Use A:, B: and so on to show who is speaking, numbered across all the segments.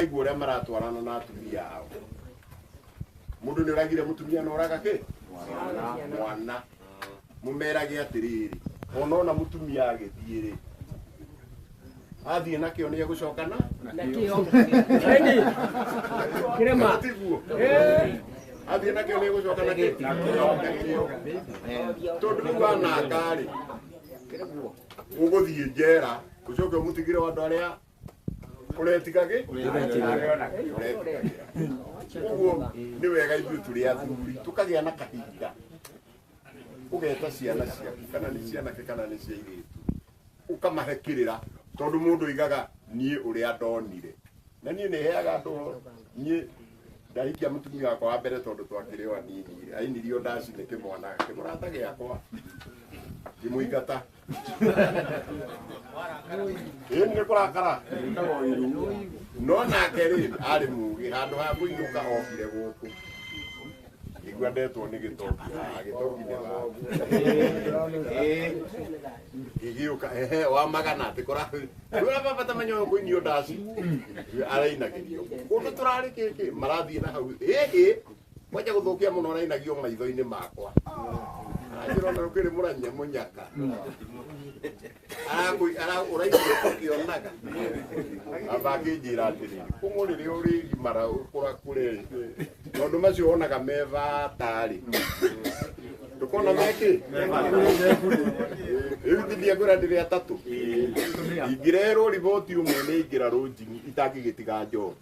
A: Igua ũrĩa maratwarana na atumia ao mũndũ nĩ ũragire mũtumia na ũraga kĩ mwana mũmerage atĩrĩrĩ ona ona mũtumia agĩthiĩ rĩ athiĩ nakĩo nĩ egũcokana nakĩo kĩrema tiguo athiĩ nakĩo nĩ egũcoka nakĩo tondũ rĩu ananga rĩ ũgũthiĩ njera ũcoke ũmũtigĩre andũ arĩa ũretigagĩ ũguo nĩ wega ithuĩ tũrĩ athuri tũkagĩa na kahinda ũgeta ciana ciaku kana nĩ cianake kana nĩ cia irĩtu ũkamahe kĩrĩra tondũ mũndũ aigaga niĩ ũrĩa ndonire na niĩ nĩ heaga andũ niĩ ndahikia mũtumia wakwa wa mbere tondũ twakĩrĩ o anini ainirio ndaci nĩ kĩmwana kĩmũrata gĩakwa ngĩmũingata ĩĩ nĩ kũrakara ĩtago iru no nake rĩ arĩ mũgĩ handũ ha kũinũka okire gũkũ igua ndetwo nĩ gĩtongi haha gĩtongi nĩ gĩgĩũka ehe wa magana atĩ kũra baba tamenya ũyũ kũinio ndaci arainagĩrio kũndũ tũrarĩ kĩkĩ marathiĩ na hau ĩĩ Mwanja gũthũkia mũno ũrainagio maitho-inĩ makwa anjĩra ona ũkĩrĩ mũranyia mũnyaka Arakwĩ- ara- ũraigua ũkĩonaga amba akĩnjĩra atĩrĩ kũng'ũ rĩrĩa ũrĩgimara ũkũra kũrerĩ maũndũ macio wonaga me batarĩ ndũkona mekĩ rĩu tithia ngwĩra ndĩrĩ atatũ ingĩrerwo riboti ũmwe nĩ ingĩra rũnjini itangĩgĩtiga njohi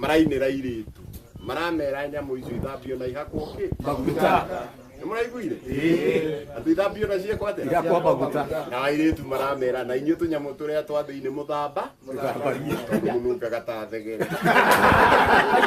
A: marainĩra irĩtu maramera nyamũ icio ithambio na ihakwo kĩ maguta nĩ mũraiguire andũ ithambio na ciĩkwo atĩa igakwa maguta na airĩtu maramera na inyuĩ tũnyamũ tũrĩa twa thĩinĩ mũthamba tondũ mũnungaga ta thegere